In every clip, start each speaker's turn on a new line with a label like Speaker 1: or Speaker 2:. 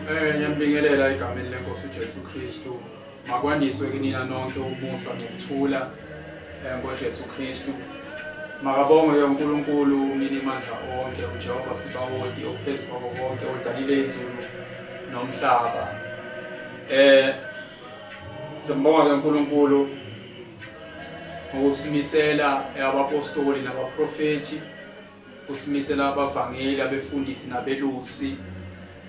Speaker 1: Eh ngiyambingelela egameni lenkosi uJesu Kristu. Makwandiswe kinina nonke umusa nokuthula eh, ngoJesu Kristu. Makabongwe ke uNkulunkulu umnini mandla onke uJehova sibawoti ophezulu konke odalile izulu nomhlaba. Eh Simbonga ke uNkulunkulu ngokusimisela abapostoli nabaprofethi usimisela abavangeli abefundisi nabelusi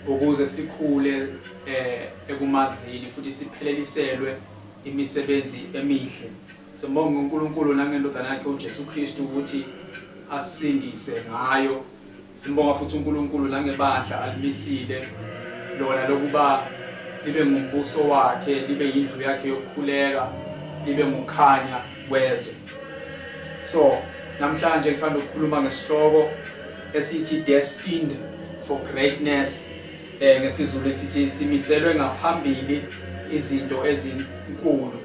Speaker 1: ukuze sikhule eh ekumazini futhi sipheleliselwe imisebenzi emihle Sibonga uNkulunkulu nangendodana yakhe uJesu Kristu ukuthi asindise ngayo. Simbonga futhi uNkulunkulu nangebandla alimisile lona lokuba libe ngumbuso wakhe, libe yindlu yakhe yokukhuleka, libe ngukhanya kwezwe. So, namhlanje ngithanda ukukhuluma ngesihloko esithi destined for greatness eh ngesizulu esithi simiselwe ngaphambili izinto ezinkulu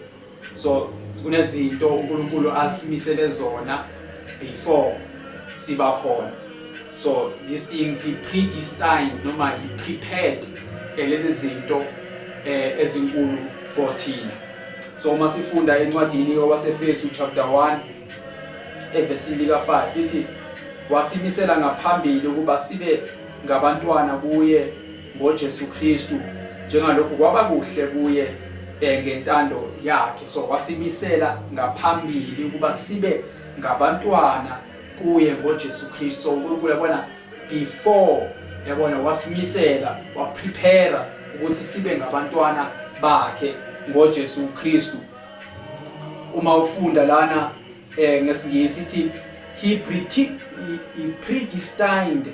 Speaker 1: so kunezinto uNkulunkulu asimisele zona before siba khona so these things he predestined noma he prepared eh, lezi zinto eh, ezinkulu for thina so uma sifunda encwadini yowasefesu chapter 1 evesi lika-5 ithi wasimisela ngaphambili ukuba sibe ngabantwana kuye ngoJesu Kristu njengalokhu kwaba kuhle kuye eh, ngentando yakhe so wasibisela ngaphambili ukuba sibe ngabantwana kuye ngoJesu Kristu so uNkulunkulu yabona before yabona wasimisela waprepare ukuthi sibe ngabantwana bakhe ngoJesu Kristu uma ufunda lana eh ngesingisi ithi he predestined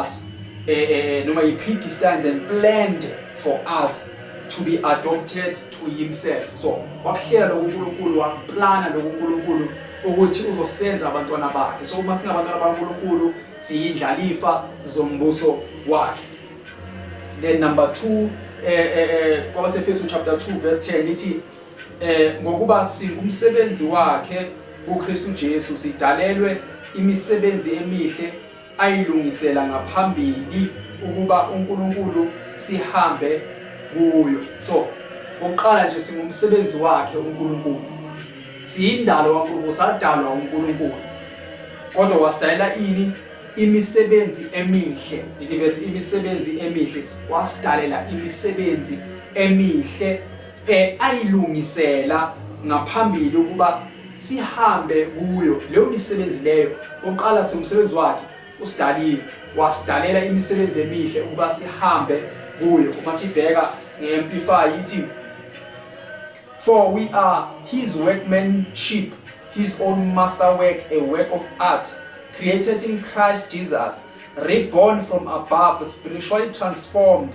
Speaker 1: us eh, eh, eh, noma he predestined and planned for us to be adopted to himself so wakuhlela lokhu uNkulunkulu waplana lokhu uNkulunkulu ukuthi uzosenza abantwana bakhe so uma singabantwana baNkulunkulu siyindlalifa zombuso wakhe then number 2 eh eh, eh kwabaseFesu chapter 2 verse 10 lithi eh ngokuba singumsebenzi wakhe uKristu Jesu sidalelwe imisebenzi emihle ayilungisela ngaphambili ukuba uNkulunkulu sihambe kuyo so oqala nje singumsebenzi wakhe uNkulunkulu siyindalo kaNkulunkulu sadalwa uNkulunkulu kodwa wasidalela ini imisebenzi emihle ithi verse imisebenzi emihle wasidalela imisebenzi emihle eh, ayilungisela ngaphambili ukuba sihambe kuyo leyo misebenzi leyo koqala siwumsebenzi wakhe usidalile wasidalela imisebenzi emihle ukuba sihambe kuyo uma sibheka nge-amplify ithi for we are his workmanship his own masterwork a work of art created in christ jesus reborn from above spiritually transformed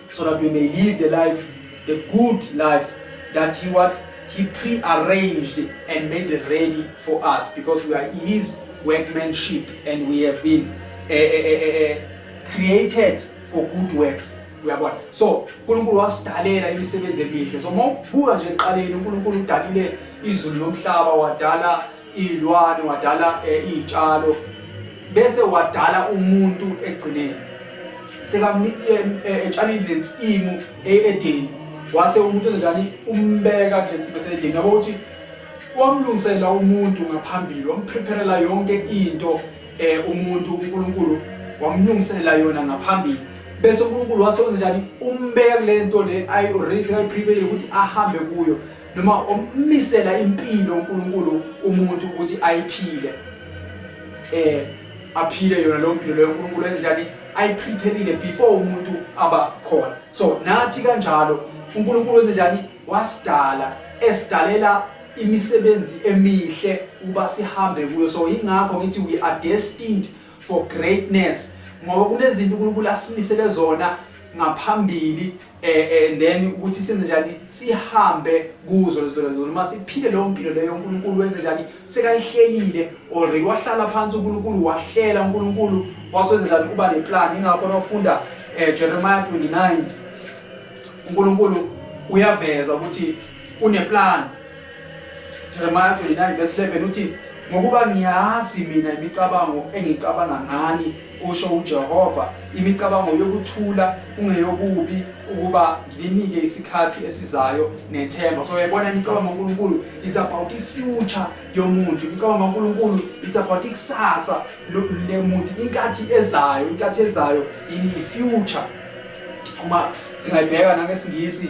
Speaker 1: so that we may live the life the good life that he what he pre-arranged and made ready for us because we are his workmanship and we have been uh, uh, uh, created for good works uyabona so uNkulunkulu wasidalela imisebenzi emihle so mawubuka nje eqaleni uNkulunkulu udalile izulu nomhlaba wadala iy'lwane wadala um iy'tshalo bese wadala umuntu ekugcineni sekametshala eh, indle nsimu e-edeni wase umuntu enzenjani umbeka kule nsimu esedeni yabo ukuthi wamlungisela umuntu ngaphambili wamprepherela yonke into um umuntu unkulunkulu wamlungisela yona ngaphambili bese uNkulunkulu wasewenza njani umbeka kulento le ayi already ayiprepare ukuthi ahambe kuyo noma omisela impilo uNkulunkulu umuntu ukuthi ayiphile eh aphile yona leyo mpilo leyo uNkulunkulu enjani ayiprepherile before umuntu aba khona so nathi kanjalo uNkulunkulu enjani wasidala esidalela imisebenzi emihle uba sihambe kuyo so ingakho ngithi we are destined for greatness ngoba kunezinto uNkulunkulu asimisele zona ngaphambili eh, eh and then ukuthi senze njani sihambe kuzo lezo lezo noma siphile leyo mpilo leyo uNkulunkulu wenze njani sekayihlelile already wahlala phansi uNkulunkulu wahlela uNkulunkulu wasenza njani kuba le plan ingakho nofunda eh, Jeremiah 29 uNkulunkulu uyaveza ukuthi une plan Jeremiah 29 verse 11 uthi ngokuba ngiyazi mina imicabango engicabanga ngani kusho uJehova imicabango yokuthula kungeyokubi ukuba ngilinike isikhathi esizayo nethemba so yabona imicabango kaNkuluNkulu it's about ifuture yomuntu imicabango kaNkuluNkulu it's about ikusasa lemuntu inkathi ezayo inkathi ezayo ini ifuture uma singayibheka nangesingisi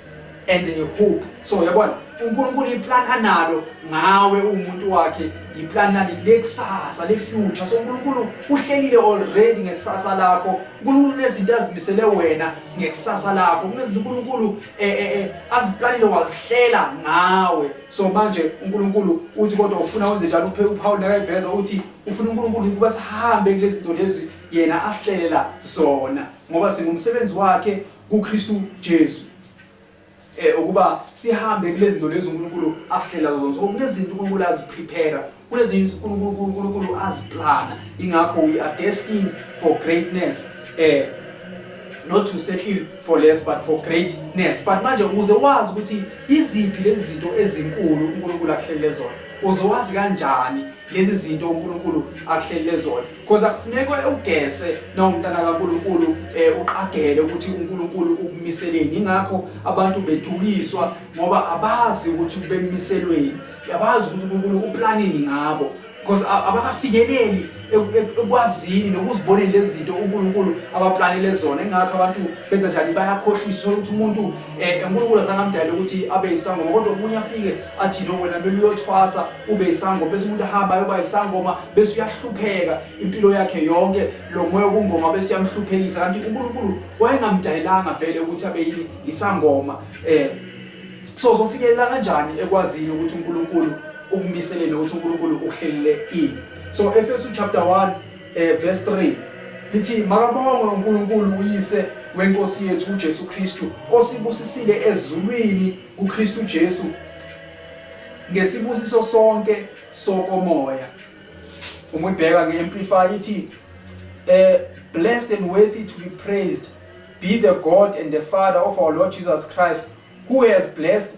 Speaker 1: and a hope so yabona uNkulunkulu iplan analo ngawe umuntu wakhe iplan lani lekusasa le future so uNkulunkulu uhlelile already ngekusasa lakho uNkulunkulu nezinto azimisele wena ngekusasa lakho kunezinto uNkulunkulu eh, eh eh aziplanile wazihlela ngawe so manje uNkulunkulu uthi kodwa ufuna wenze njalo uphe uPaul nakayiveza uthi ufuna uNkulunkulu ukuba sihambe kulezi zinto lezi yena asihlelela zona ngoba singumsebenzi wakhe kuKristu Jesu eh ukuba sihambe kulezinto lezo uNkulunkulu asihlela kuzo so kunezinto uNkulunkulu aziprepare kunezinto uNkulunkulu uNkulunkulu aziplana ingakho we are destined for greatness eh not to settle for less but for greatness but manje uze wazi ukuthi iziphi lezi zinto ezinkulu uNkulunkulu akuhlelele zona uzowazi kanjani lezi zinto uNkulunkulu akuhlelele zona Because akufunekwe ugese nawumntana kaNkulunkulu eh uqagele ukuthi uNkulunkulu ukumiseleni. Ingakho abantu bedukiswa ngoba abazi ukuthi bemiselweni. Yabazi ukuthi uNkulunkulu uplanini ngabo. Because abakafikeleli ekwazini nokuzibonela lezinto uNkulunkulu abaplanele zona. Ingakho abantu benza njani bayakhohlisa ukuthi umuntu Eh, uNkulunkulu asangamdala ukuthi abe isangoma kodwa omunye afike athi no wena kumele uyothwasa ube isangoma bese umuntu ahamba ayoba isangoma bese uyahlupheka impilo yakhe yonke lo moya wobungoma bese uyamhluphekisa kanti uNkulunkulu wayengamdayilanga vele ukuthi abe yini isangoma eh so zofikelela kanjani ekwazini ukuthi uNkulunkulu ukumiselele ukuthi uNkulunkulu ukuhlelele ini so Efesu chapter 1 Eh verse 3 lithi makabongwe uNkulunkulu uyise wenkosi yethu uJesu Kristu osibusisile ezulwini kuKristu Jesu ngesibusiso sonke sokomoya uma uyibheka nge-amplify ithi eh blessed and worthy to be praised be the God and the Father of our Lord Jesus Christ who has blessed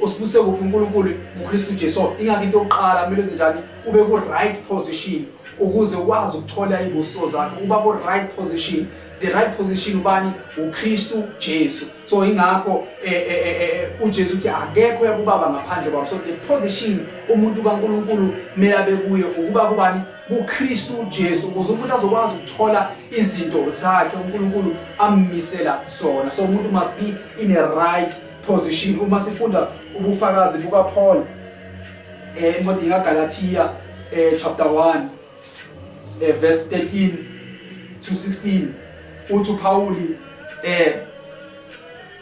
Speaker 1: usibuse kuphi uNkulunkulu nguKristu Jesu ingakho into yokuqala kumele enze njani ube ku right position ukuze ukwazi ukuthola ibuso zakhe uba ku right position the right position ubani uKristu Jesu so ingakho eh, eh, eh, uJesu uthi akekho yakubaba ngaphandle kwabo so the position umuntu kaNkuluNkulu meyabe kuye ukuba kubani kuKristu Jesu ukuze umuntu azokwazi ukuthola izinto zakhe uNkuluNkulu ammisela zona so umuntu must be in a right position uma sifunda ubufakazi bukaPaul eh incwadi kaGalatia eh chapter 1 eh verse 13 to 16 uthi uPawuli eh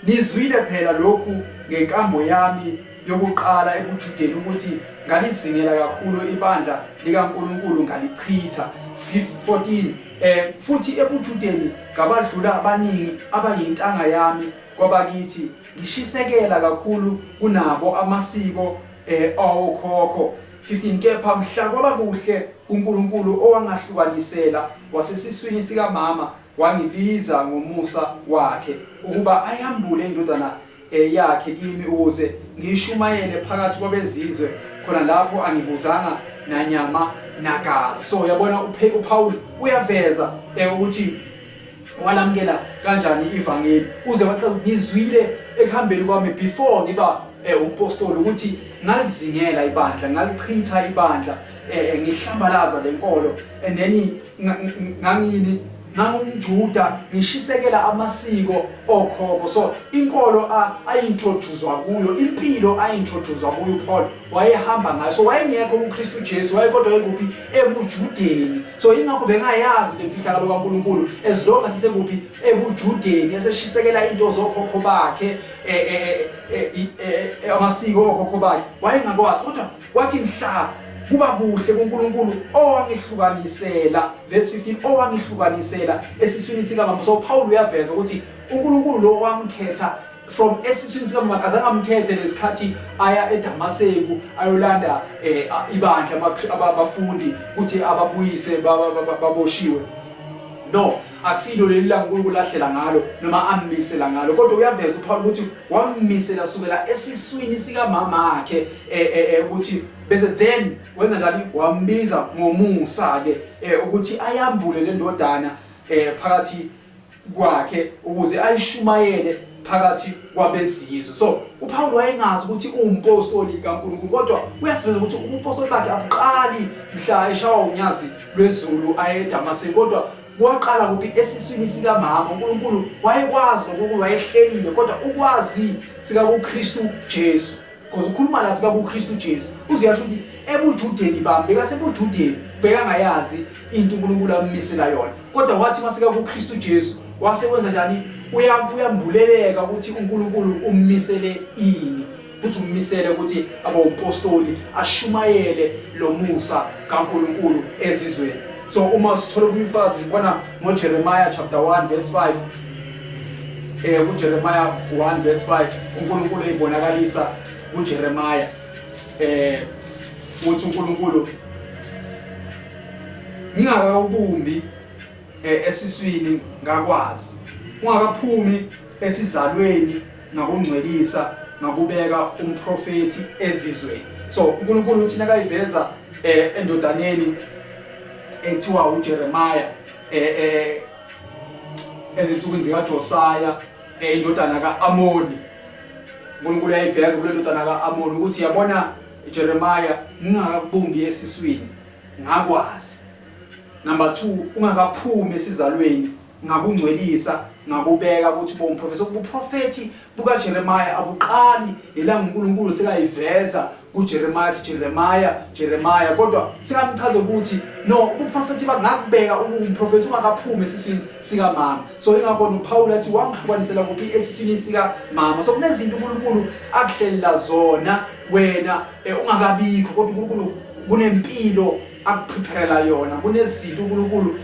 Speaker 1: nizwile phela lokhu ngenkambo yami yokuqala ebuJudeni ukuthi ngalizingela kakhulu ibandla likaNkuluNkulu ngalichitha 14 eh futhi ebuJudeni ngabadlula abaningi abayintanga yami kwabakithi ngishisekela kakhulu kunabo amasiko eh awokhokho 15 kepha mhla kwaba kuhle kuNkulunkulu owangahlukanisela wasesiswini sikamama wangibiza ngomusa wakhe ukuba ayambule indodana eh, yakhe kimi ukuze ngishumayele phakathi kwabezizwe khona lapho angibuzanga nanyama nagazi so yabona uPaul uyaveza eh, ukuthi walamukela kanjani ivangeli uze waqala ukuthi ngizwile ekuhambeni kwami before ngiba eh, umpostoli ukuthi ngalizingela ibandla ngalichitha ibandla eh, eh, ngihlambalaza le nkolo and then ngangini ngangumjuda ngishisekela amasiko okhoko so inkolo ayintroducezwa kuyo impilo ayintroducezwa kuyo uPaul wayehamba ngayo so wayengekho uKristu Jesu wayekodwa ekuphi ebujudeni so ingakho bengayazi lemfihlakalo kaNkuluNkulu as long as sekuphi ebujudeni eseshisekela into zokhokho bakhe eh, eh, eh, amasiko okhokho bakhe wayengakwazi kodwa wathi mhla kuba kuhle kuNkulunkulu owangihlukanisela verse 15 owangihlukanisela esiswini sikamama so Paul uyaveza ukuthi uNkulunkulu lo wamkhetha from esiswini sikamuka akazange amkhethe lesikhathi aya eDamaseku ayolanda eh, ibandla abafundi ukuthi ababuyise baboshiwe no akusilo leli la uNkulunkulu lahlela ngalo noma ammisela ngalo kodwa uyaveza uPaul ukuthi wammisela sukela esiswini sikamama wakhe eh, eh, eh, ukuthi bese then wenza njani wambiza ngomusa ke ukuthi ayambule le ndodana phakathi kwakhe ukuze ayishumayele phakathi kwabezizwe so uPawulu wayengazi ukuthi uwumpostoli kaNkulunkulu kodwa uyasiveza ukuthi ubupostoli bakhe abuqali mhla eshawa unyazi lwezulu aye eDamaseko kodwa kwaqala kuphi esiswini sikamama uNkulunkulu wayekwazi nokuNkulunkulu wayehlelile kodwa ukwazi sikaKristu Jesu Because ukhuluma la sika kuKristu Jesu. Uziyasho ukuthi ebujudeni bami bekasebujudeni bheka ngayazi into uNkulunkulu amumisela yona. Kodwa wathi masika kuKristu Jesu wase wenza njani? Uyambuleleka ukuthi uNkulunkulu ummisele ini. Ukuthi ummisele ukuthi abe umpostoli ashumayele lo musa kaNkulunkulu ezizweni. So uma sithola umfazi sibona ngoJeremiah chapter 1 verse 5 eh kuJeremiah 1 verse 5 uNkulunkulu ezibonakalisa kuJeremiah eh uthi uNkulunkulu ngingaka ubumbi eh, esiswini ngakwazi ungakaphumi esizalweni ngakungcwelisa ngakubeka umprofeti ezizweni so uNkulunkulu uthina kayiveza eh, endodaneni ethiwa uJeremiah eh, eh ezinsukwini zikaJosiah eh, indodana ka-Amoni uNkulunkulu yayiveza kule ndodana ka-Amoni ukuthi yabona Jeremiah ngingakakubumbi esiswini ngakwazi number 2 ungakaphumi esizalweni ngakungcwelisa ngakubeka ukuthi bomprofethi sokubuprofethi bukaJeremiya abuqali yilanga uNkulunkulu sekayiveza kuJeremiya athi Jeremiya Jeremiya kodwa singamchaza ukuthi no ubuprofethi bangakubeka umprofethi ungakaphumi esiswini sikamama so ingakho uPawulu athi wangihlukanisela kuphi esiswini sikamama so kunezinto uNkulunkulu akuhlelela zona wena eh, ungakabikho kodwa uNkulunkulu kunempilo akuprepare yona kunezinto uNkulunkulu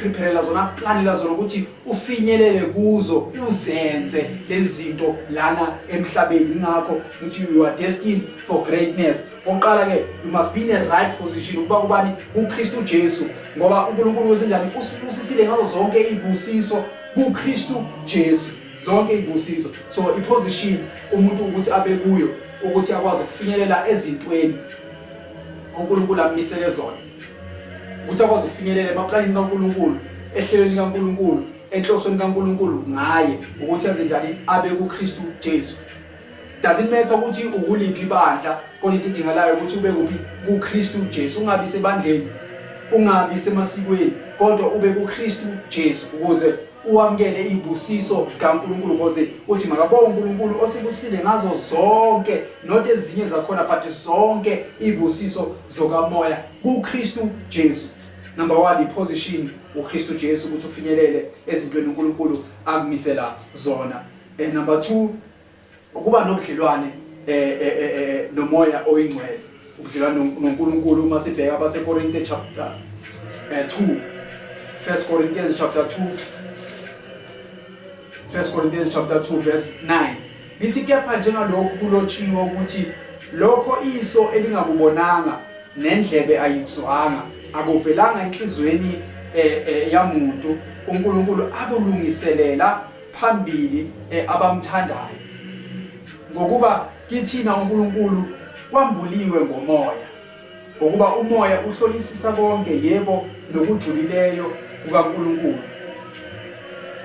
Speaker 1: prepare la zona plan la zona ukuthi ufinyelele kuzo uzenze lezi zinto lana emhlabeni ingakho ukuthi you are destined for greatness oqala ke you must be in a right position ukuba kubani kuKristu Jesu ngoba uNkulunkulu wezindlani usibusisile ngazo zonke izibusiso kuKristu Jesu zonke izibusiso so iposition umuntu ukuthi abe kuyo ukuthi akwazi ukufinyelela ezintweni uNkulunkulu ammisele zona ukuthi akwazi ukufinyelela emaplanini kaNkulunkulu ehlelweni likaNkulunkulu enhlosweni kaNkulunkulu ngaye ukuthi aze njani abe kuKristu Jesu does it matter ukuthi ukuliphi ibandla kodwa into edingalayo ukuthi ube kuphi kuKristu Jesu ungabi sebandleni ungabi semasikweni kodwa ube kuKristu Jesu ukuze uwamukele izibusiso zikaNkulunkulu cause uthi makabonge uNkulunkulu osibusile ngazo zonke not ezinye zakhona but zonke izibusiso zokamoya kuKristu Jesu number 1 iposition uKristu Jesu ukuthi ufinyelele ezintweni uNkulunkulu akumisela zona and number 2 ukuba nobudlelwane eh, eh, eh, eh, eh nomoya oyingcwele ubudlelwane no- noNkulunkulu uma sibheka abaseKorinte chapter eh, 2 First Corinthians chapter 2 First Corinthians chapter 2 verse 9 lithi kepha njengalokhu kulotshiwe ukuthi lokho iso elingakubonanga nendlebe ayikuzwanga akuvelanga enhlizweni eh, eh, yamuntu uNkulunkulu akulungiselela phambili eh, abamthandayo ngokuba kithina uNkulunkulu kwambuliwe ngomoya ngokuba umoya uhlolisisa konke yebo nokujulileyo kukaNkulunkulu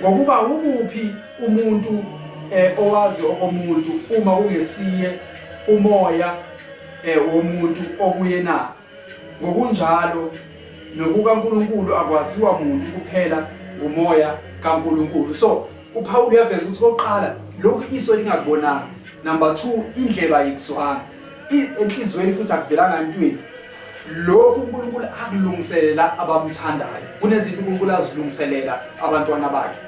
Speaker 1: ngokuba umuphi umuntu eh, owazi okomuntu uma kungesiye umoya eh, womuntu okuyena Ngokunjalo, nokukaNkulunkulu akwaziwa muntu kuphela ngumoya kaNkulunkulu. So, uPhawulu uyaveza ukuthi kokuqala lokhu iso lingakubonanga. Number 2, indlebe ayikuzwanga. Enhlizweni futhi akuvelanga entweni. lokhu uNkulunkulu akulungiselela abamthandayo kunezinto uNkulunkulu azilungiselela abantwana bakhe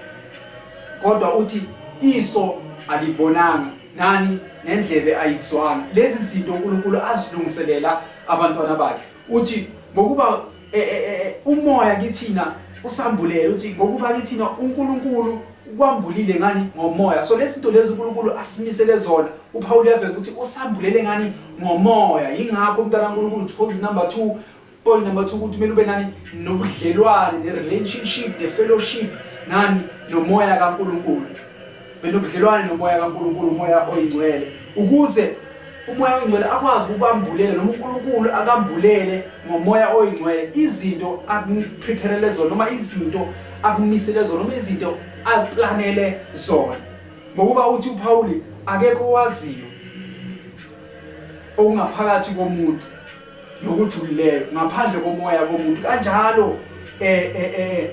Speaker 1: kodwa uthi iso alibonanga nani nendlebe ayikuzwanga lezi zinto uNkulunkulu azilungiselela abantwana bakhe uthi ngokuba e, e, e, umoya kithina usambulele uthi ngokuba kithina uNkulunkulu ukwambulile ngani ngomoya so lezi zinto lezi uNkulunkulu asimisele zona uPawulu uyaveza ukuthi usambulele ngani ngomoya yingakho umntana kaNkulunkulu uthi number 2 Point number 2 ukuthi kumele ube nani nobudlelwane ne relationship ne fellowship nani nomoya kaNkuluNkulu. Benobudlelwane nomoya kaNkuluNkulu, umoya oyingcwele ukuze umoya oyingcwele akwazi ukubambulela noma uNkulunkulu akambulele ngomoya oyingcwele izinto akuprepare zona noma izinto akumisele zona noma izinto aplanele zona. Ngokuba uthi uPawuli akekho owaziyo okungaphakathi komuntu nokujulileyo ngaphandle komoya komuntu kanjalo um eh, um eh, eh,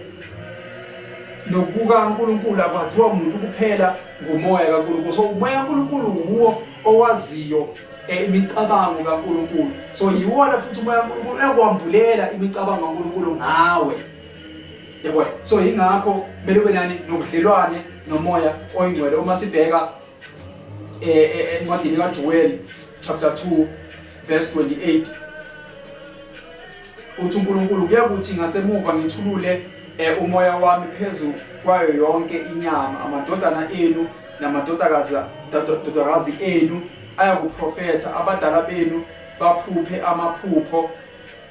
Speaker 1: nokukaNkulunkulu akwaziwa umuntu kuphela ngumoya kaNkulunkulu so umoya kaNkulunkulu wuwo owaziyo eh, imicabango kaNkulunkulu so yiwona futhi umoya kaNkulunkulu ekwambulela imicabango kaNkulunkulu ngawe yebo so ingakho kumele ube nani nobudlelwane nomoya oyingcwele uma sibheka eh, eh, encwadini kaJoel chapter 2 Verse 28 uthi uNkulunkulu kuyakuthi ngasemuva ngithulule eh, umoya wami phezu kwayo yonke inyama amadodana enu namadodakazi dodakazi enu ayakuprofetha abadala benu baphuphe amaphupho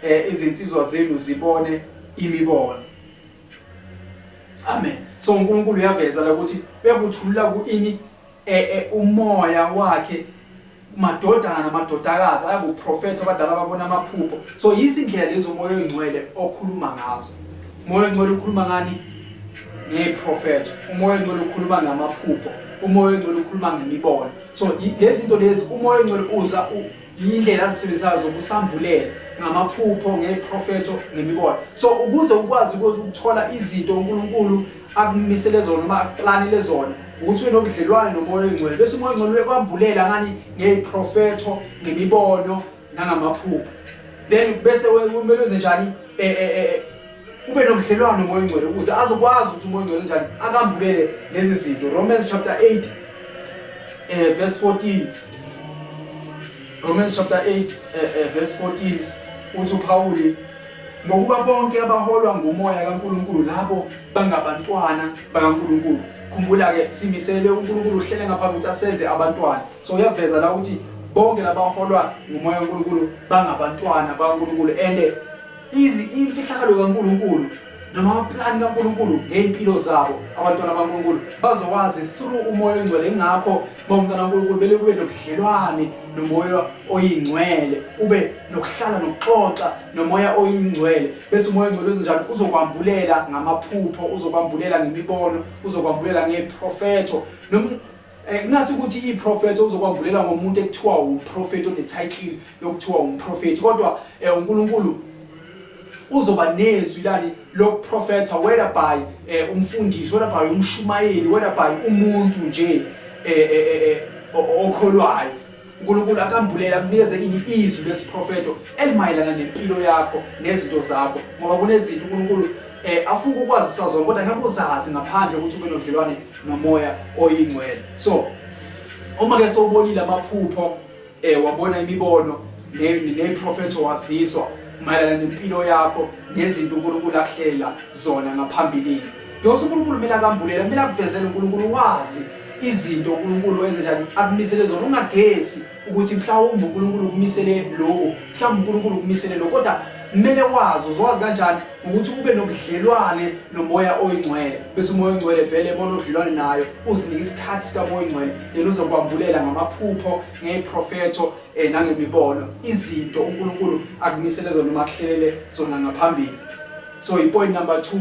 Speaker 1: eh, izinsizwa zenu zibone imibono amen so uNkulunkulu uyaveza la ukuthi uyakuthulula kuini e, e, umoya wakhe madodana namadodakazi ayakuprofetha abadala babona amaphupho so yizindlela lezo moya oyingcwele okhuluma ngazo umoya oyingcwele ukhuluma ngani ngeprofetho umoya oyingcwele ukhuluma ngamaphupho umoya oyingcwele ukhuluma ngemibono so lezi zinto lezi umoya oyingcwele uza yindlela azisebenzisayo zokusambulela ngamaphupho ngeprofetho ngemibono so ukuze ukwazi ukuthola izinto unkulunkulu akumisele zona uma akuqlanile zona ukuthi wenobudlelwane nomoya oyingcwele bese umoya oyingcwele uyekwambulela ngani ngey'profetho ngemibono nangamaphupho then bese kumele wenze njani eh, eh, eh, ube nobudlelwane nomoya oyingcwele ukuze azokwazi ukuthi umoya oyingcwele njani akambulele lezi zinto romans chapter 8 um verse 14 Romans chapter 8 eh, eh, verse 14 uthi uPawuli ngokuba bonke abaholwa ngumoya kaNkuluNkulu labo bangabantwana bakaNkuluNkulu khumbula ke simisele uNkuluNkulu uhlele ngaphambi ukuthi asenze abantwana so uyaveza la ukuthi bonke labaholwa ngumoya kaNkuluNkulu bangabantwana bakaNkuluNkulu and Izi imfihlakalo kaNkulunkulu noma amaplani kaNkulunkulu ngey'mpilo zabo abantwana baNkulunkulu bazowazi through umoya oyingcwele ingakho uma umntwana kaNkulunkulu bele kube nobudlelwane nomoya oyingcwele ube nokuhlala nokuxoxa nomoya oyingcwele bese umoya oyingcwele uzenjani uzokwambulela ngamaphupho uzokwambulela ngemibono uzokwambulela ngeprofetho Eh, kungase ukuthi iprofethi okuzokwambulela ngomuntu ekuthiwa umprofethi onetitle yokuthiwa umprofethi kodwa um unkulunkulu uzoba nezwi lani lokuprofetha whereby um umfundisi whereby umshumayeli whereby umuntu nje um okholwayo uNkulunkulu akambulele akunikeze ini izwi lesiprofeto elimayelana nempilo yakho nezinto zakho ngoba kunezinto uNkulunkulu eh afunga ukwazi sazona kodwa ngeke uzazi ngaphandle ukuthi ube nodlelwane nomoya oyingcwele so uma ke sowubonile amaphupho eh wabona imibono neprofeto waziswa mayelana nempilo yakho nezinto uNkulunkulu akuhlela zona ngaphambilini Yonke uNkulunkulu kumele akambulele, kumele akuvezele uNkulunkulu wazi izinto uNkulunkulu enze njani akumisele zona ungagesi ukuthi mhlawumbe uNkulunkulu ukumisele lokho mhlawumbe uNkulunkulu ukumisele lokho kodwa kumele wazi uzowazi kanjani ukuthi ube nobudlelwane nomoya oyingcwele bese umoya oyingcwele vele bona ubudlelwane nayo uzinike isikhathi sikamoya oyingcwele yena uzokwambulela ngamaphupho ngeyiprofetho um eh, nangemibono izinto unkulunkulu akumisele zona uma kuhlelele zona ngaphambili so yipoint number two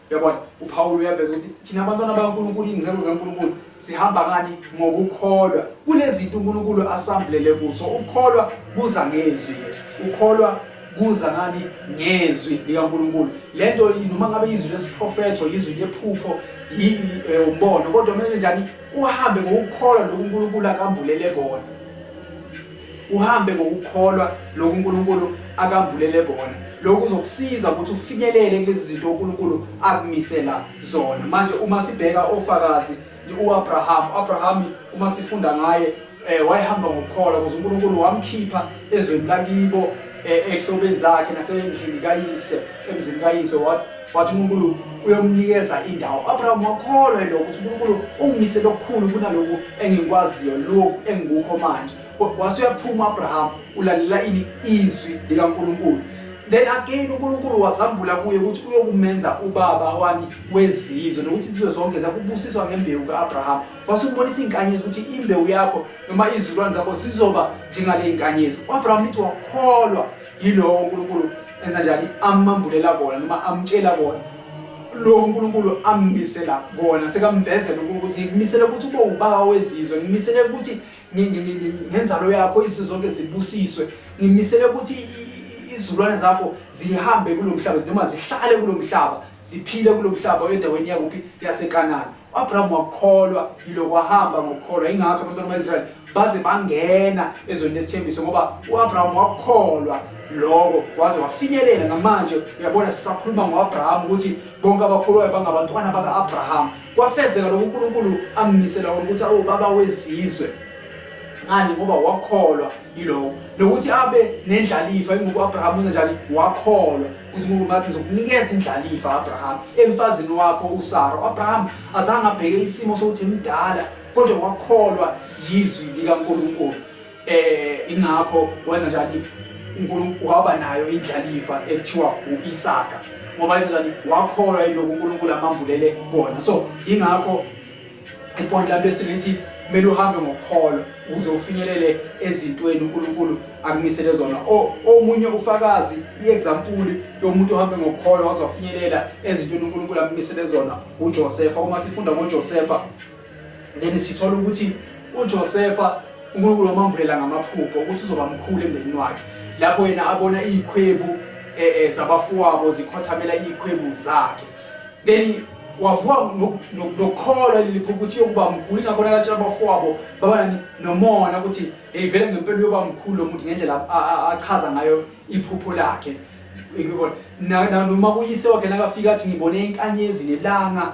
Speaker 1: Yabona, uPawulu uyaveza ukuthi thina abantwana bakaNkulunkulu, iy'ngcebo zikaNkulunkulu, sihamba ngani? Ngokukholwa. Kunezinto uNkulunkulu asambulele kuso. Ukukholwa kuza ngezwi. Ukukholwa kuza ngani? Ngezwi likaNkulunkulu. Le nto noma ngabe izwi lesiprofetho, izwi lephupho, eh, umbono, kodwa kumele njani? Uhambe ngokukholwa lokhu uNkulunkulu akambulele kona. Uhambe ngokukholwa lokhu uNkulunkulu akambulele kona. Lokhu kuzokusiza ukuthi ufinyelele kulezi zinto uNkulunkulu akumisela zona. Manje uma sibheka ofakazi uAbraham, uAbraham uma sifunda ngaye eh wayehamba ngokukholwa ukuze uNkulunkulu wamkhipha ezweni lakibo eh, ehlobeni zakhe nasendlini kayise emzini kayise wathi uNkulunkulu uyomnikeza indawo u-abraham wakholwa yena ukuthi uNkulunkulu ungimisele okukhulu kunaloku engikwaziyo lokhu engikukho manje wase uyaphuma u-abraham ulalela ini izwi likankulunkulu then again uNkulunkulu wazambula kuye ukuthi uyokumenza ubaba wani wezizwe nokuthi izizwe zonke zakubusiswa ngembewu kaAbraham wasubonisa izinkanyezi ukuthi imbewu yakho noma izilwane zakho sizoba njengale izinkanyezi uAbraham lithi wakholwa yilowo uNkulunkulu enza njani amambulela kona noma amtshela kona lo uNkulunkulu ammisela kona sekamvezela ukuthi ngikumisele ukuthi ube ubaba wezizwe ngimisele ukuthi ngenzalo yakho izizwe zonke zibusiswe ngimisele ukuthi izulwane zakho zihambe kulomhlaba noma zihlale kulomhlaba Ziphile kulo mhlaba endaweni yakuphi yaseKanani. U-Abraham wakholwa yilo kwahamba ngokukholwa. Ingakho abantwana bakwa-Israyeli baze bangena ezweni lesithembiso ngoba u-Abraham wakholwa loko waze wafinyelela namanje uyabona sisakhuluma ngo-abraham ukuthi bonke abakholwayo bangabantwana baka-abraham kwafezeka lokhu unkulunkulu ammisela wona ukuthi awubaba wezizwe ngani ngoba wakholwa yiloko nokuthi abe nendlalifa ingoku-abraham unjani wakholwa uNkulunkulu bathi ngizokunikeza indlalifa Abraham emfazini wakho uSara uAbraham azange abheke isimo sokuthi imdala kodwa wakholwa yizwi likaNkulunkulu eh ingakho wenza njani uNkulunkulu waba nayo indlalifa ethiwa uIsaka ngoba njani wakholwa yiloko uNkulunkulu amambulele kona so ingakho ipoint lami lesithathu lithi kumele uhambe ngokukholwa ukuze ufinyelele ezintweni uNkulunkulu akumisele zona omunye ufakazi iexample yomuntu ohambe ngokukholwa wazofinyelela ezintweni uNkulunkulu akumisele zona uJosefa uma sifunda ngoJosefa then sithola ukuthi uJosefa uNkulunkulu wamambulela ngamaphupho ukuthi uzoba mkhulu emndenini wakhe lapho yena abona izikhwebu eh, eh, zabafowabo zikhothamela izikhwebu zakhe then wavuka nokukholwa elilipho ukuthi yokuba mkhulu ingakho nalatshela abafowabo babana nomona ukuthi hey vele ngempela uyoba mkhulu lo muntu ngendlela achaza ngayo iphupho lakhe noma kuyise wakhe nakafika athi ngibone inkanyezi nelanga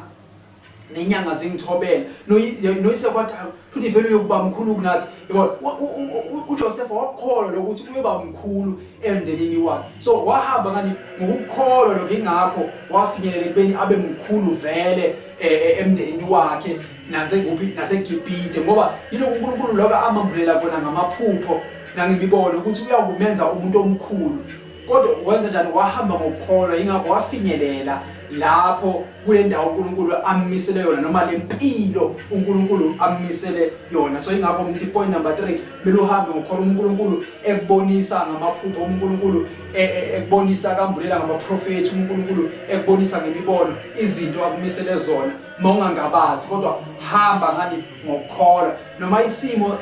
Speaker 1: nenyanga zingithobela noyise kwathi futhi vele uyokuba mkhulu kunathi yabona uJoseph wakholwa lokuthi uyoba mkhulu emndenini wakhe so wahamba ngani ngokukholwa lokho ingakho wafinyelela ekubeni abe mkhulu vele e, e, emndenini wakhe nasekuphi naseGibhithe ngoba yilokho uNkulunkulu lokho amambulela kona ngamaphupho nangemibono ukuthi uyakumenza umuntu omkhulu kodwa wenza njani wahamba ngokukholwa yingakho wafinyelela lapho kule ndawo uNkulunkulu ammisele yona noma le mpilo uNkulunkulu ammisele yona so ingakho ngithi point number 3 kumele uhambe ngokhona uNkulunkulu ekubonisa ngamaphupho uNkulunkulu e, e, ekubonisa kambulela ngabaprofethi uNkulunkulu ekubonisa ngemibono izinto akumisele zona mawungangabazi kodwa hamba ngani ngokukholwa noma isimo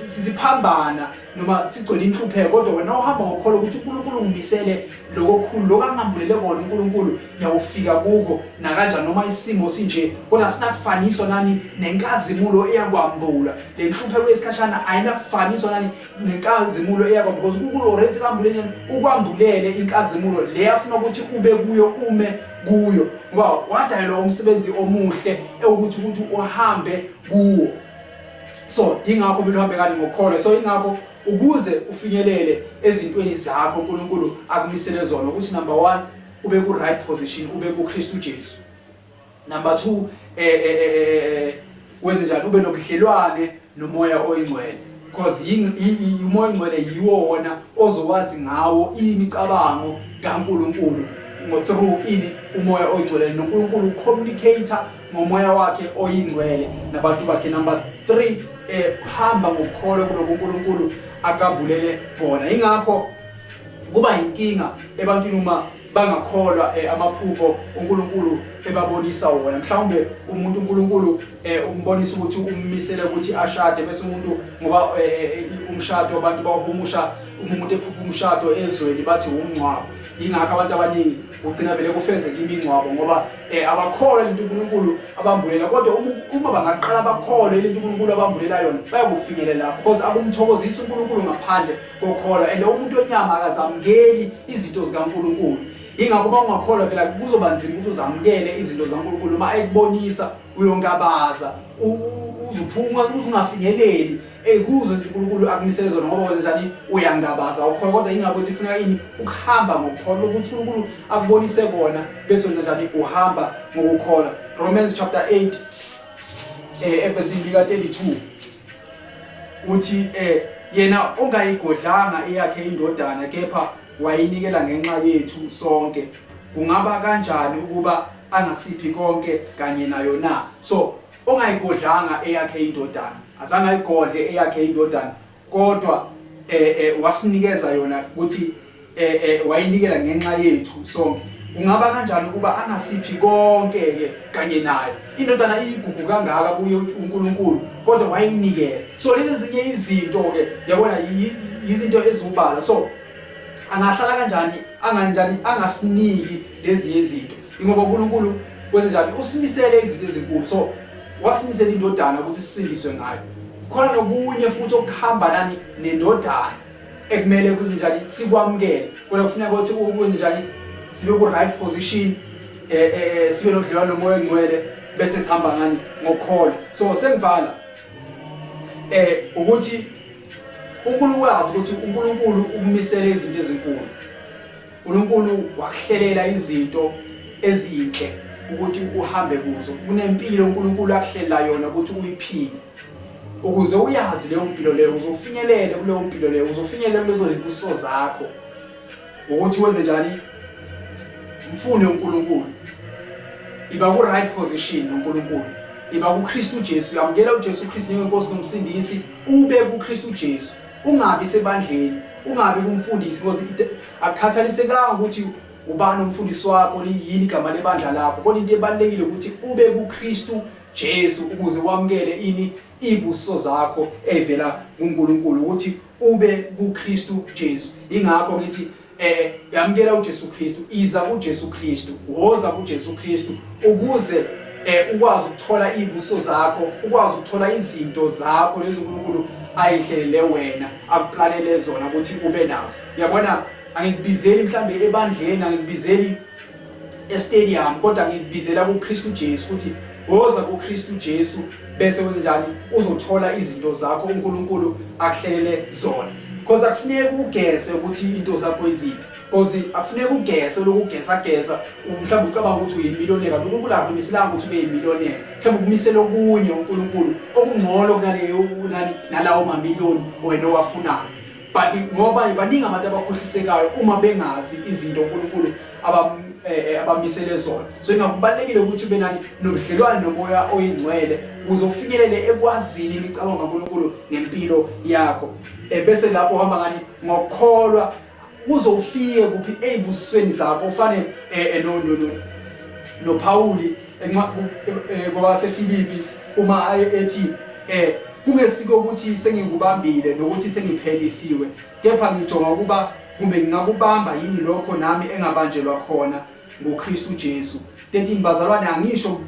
Speaker 1: siphambana noma sigcwele inhlupheko kodwa wena uhamba ngokukholwa ukuthi uNkulunkulu ungimisele lokokhulu lokho angambulele kona uNkulunkulu ngiyawufika kuko nakanjani noma isimo sinje kodwa sinakufaniswa nani nenkazimulo eyakwambula le nhlupheko yesikhashana ayinakufaniswa nani nenkazimulo eyakwambula because uNkulunkulu already kambulele ukwambulele inkazimulo le afuna ukuthi ube kuyo ume kuyo ngoba wadayelwa umsebenzi omuhle ewukuthi ukuthi uhambe kuwo so ingakho kumele uhambe kani ngokukholwa so ingakho ukuze ufinyelele ezintweni zakho uNkulunkulu akumisele zona ukuthi number 1 ube ku right position ube ku Kristu Jesu number 2 eh, eh, eh, eh, eh wenze njani ube nobudlelwane nomoya oyingcwele because umoya oyingcwele yiwo wona ozowazi ngawo imicabango kaNkulunkulu ngo through ini umoya oyingcwele noNkulunkulu communicator ngomoya wakhe oyingcwele nabantu bakhe number 3 ehamba eh, ngokukholwa kuloko uNkulunkulu akabulele kona ingakho kuba inkinga ebantwini uma bangakholwa eh, amaphupho uNkulunkulu ebabonisa wona mhlawumbe umuntu uNkulunkulu eh, umbonisa ukuthi ummisele ukuthi ashade bese umuntu ngoba eh, umshado abantu bahumusha uma umuntu ephupha umshado ezweni bathi umngcwabo ingakho abantu abaningi ugcina vele kufezeka imingcwabo ngoba eh abakholwa into uNkulunkulu abambulela kodwa uma bangaqala bakholwe into uNkulunkulu abambulela yona bayakufikele lapho because akumthokozisa uNkulunkulu ngaphandle kokholwa and umuntu wenyama akazamukeli izinto zikaNkulunkulu ingakho uma ungakholwa phela kuzoba nzima ukuthi uzamukele izinto zikaNkulunkulu uma ekubonisa uyongabaza uzuphuma uzingafinyeleli Ey kuzo uNkulunkulu akumisele zona ngoba wenza njani uyangabaza awukholwa kodwa ingabe uthi kufuneka yini ukuhamba ngokukholwa ukuthi uNkulunkulu akubonise kona bese wenza njani uhamba ngokukholwa Romans chapter 8 eh verse 32 uthi eh yena ongayigodlanga eyakhe indodana kepha wayinikela ngenxa yethu sonke kungaba kanjani ukuba angasiphi konke kanye nayo na so ongayigodlanga eyakhe indodana azange ayigodle eyakhe indodana kodwa eh, eh wasinikeza yona ukuthi eh, eh wayinikela ngenxa yethu sonke kungaba kanjani ukuba angasiphi konke ke kanye naye indodana iyigugu kangaka kuye uNkulunkulu kodwa wayinikela so lezi zinye izinto ke yabona yizinto ezubala so angahlala kanjani anganjani angasiniki lezi izinto Ingoba uNkulunkulu kwenze njani? Usimisele izinto ezinkulu. So wasimisela indodana ukuthi sisindiswe ngayo. Khona nokunye futhi okuhamba nani nendodana ekumele ukuthi njani sikwamukele. Kodwa kufuneka ukuthi ukwenze njani sibe ku right position eh, eh, eh sibe nodlelwane nomoya ongcwele bese sihamba ngani ngokholo. So sengivala eh ukuthi uNkulunkulu wazi ukuthi uNkulunkulu ukumisela izinto ezinkulu uNkulunkulu wakuhlelela izinto ezinhle ukuthi uhambe kuzo kunempilo uNkulunkulu akuhlelela yona ukuthi uyiphile ukuze uyazi leyo mpilo leyo uzofinyelela kuleyo mpilo leyo uzofinyelela kulezo zibuso zakho ukuthi wenze njani mfune uNkulunkulu iba ku right position noNkulunkulu iba kuKristu Jesu yamukela uJesu Kristu njengenkosi nomsindisi ube kuKristu Jesu Ungabi sebandleni, ungabi kumfundisi because it- akukhathalisekanga ukuthi ubani umfundisi wakho liyini igama lebandla lakho kodwa into ebalulekile ukuthi ube kuKristu Jesu ukuze wamukele ini ibuso zakho evela kuNkulunkulu ukuthi ube kuKristu Jesu ingakho ngithi eh yamkela uJesu Kristu iza kuJesu Kristu woza kuJesu Kristu ukuze eh ukwazi ukuthola izibuso zakho ukwazi ukuthola izinto zakho lezi uNkulunkulu ayihlelele wena akuplanele zona ukuthi ube nazo uyabona angikubizeli mhlambe ebandleni angikubizeli estadium kodwa ngikubizela kuKristu Jesu ukuthi woza kuKristu Jesu bese wenzenjani uzothola izinto zakho uNkulunkulu akuhlelele zona because akufuneki ugese ukuthi into zakho iziphi because akufuneki ugese lokugesa gesa mhlawumbe ucabanga ukuthi uyimiloneka lokhu kulapho imisilanga ukuthi ube yimiloneka mhlawumbe ukumisela okunye uNkulunkulu okungcono kunaleyo nalawo mamiliyoni wena owafunayo but ngoba baningi abantu abakhohlisekayo uma bengazi izinto uNkulunkulu abam eh, eh, abamisele zona so ingakubalekile ukuthi ube nani nobudlelwane nomoya oyingcwele uzofikelele ekwazini imicabango kaNkulunkulu ngempilo yakho eh, bese lapho uhamba ngani ngokholwa uzofike kuphi ezibusweni zakho ufane no no no no Pauli Enqaphu eh, kwabaseFilipi uma aye ethi eh kungesiko ukuthi sengikubambile nokuthi sengiphelisiwe kepha ngijonga ukuba kumbe ngingakubamba yini lokho nami engabanjelwa khona ngoKristu Jesu 13 bazalwane angisho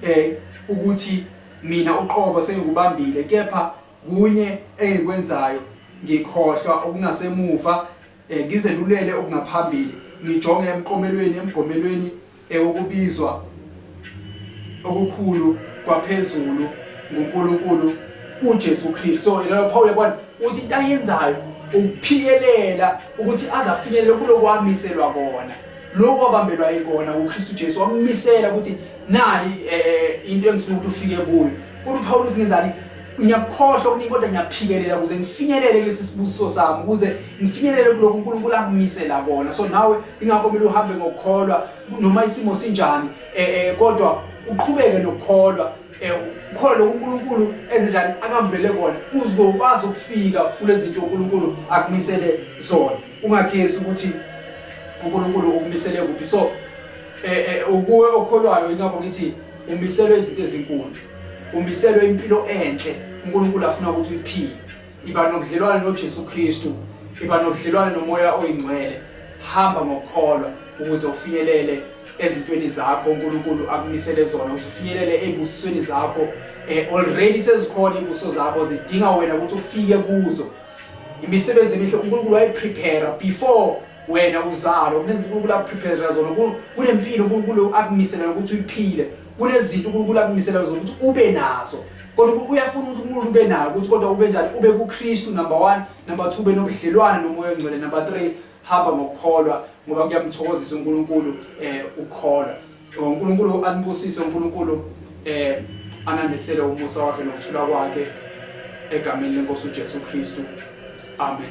Speaker 1: eh ukuthi mina uqobo sengikubambile kepha kunye engikwenzayo ngikhohlwa okungasemuva eh, ngizelulele okungaphambili ngijonge emqomelweni emgomelweni Ewukubizwa okukhulu kwaphezulu nguNkulunkulu kuJesu Kristu. So yena Paul yabona uthi into ayenzayo ukuphikelela ukuthi azafinyelele kulokwamiselwa kona. Lokho wabambelwa ikona kuKristu Jesu wammisela ukuthi nayi eh, eh, into engifuna ukuthi ufike kuyo. Kodwa uPaul uthi ngenzani? ngiyakukhohlwa okuningi kodwa ngiyaphikelela ukuze ngifinyelele kulesi sibusiso sami ukuze ngifinyelele kuloko uNkulunkulu angimisela kona so nawe ingakho kumele uhambe ngokukholwa noma isimo sinjani eh, eh kodwa uqhubeke nokukholwa eh khona lokho uNkulunkulu enze njani akambulele kona uzokwazi ukufika kulezi zinto uNkulunkulu akumisele zona ungagezi ukuthi uNkulunkulu ukumisele kuphi so eh, eh ukuwe okholwayo ingakho ngithi umiselwe izinto ezinkulu umiselwe impilo enhle uNkulunkulu afuna ukuthi uyiphile iba nobudlelwane noJesu Kristu iba nobudlelwane nomoya oyingcwele hamba ngokukholwa ukuze ufinyelele ezintweni zakho uNkulunkulu akumisele zona ufinyelele ebusisweni zakho eh already sezikhona ibuso zakho zidinga wena ukuthi ufike kuzo imisebenzi emihle uNkulunkulu wayiprepare before wena uzalo kunezinto uNkulunkulu akuprepare zona kunempilo uNkulunkulu akumisela ukuthi uyiphile kunezinto uNkulunkulu akumiselayo zokuthi ube nazo kodwa uyafuna ukuthi umuntu ube nayo ukuthi kodwa ube njani ube kuKristu number 1 number 2 ube nobudlelwane nomoya ongcwele number 3 hamba ngokukholwa ngoba kuyamthokozisa uNkulunkulu eh ukukholwa uNkulunkulu anibusise uNkulunkulu eh anandisele umusa wakhe nokuthula kwakhe egameni lenkosi uJesu Kristu amen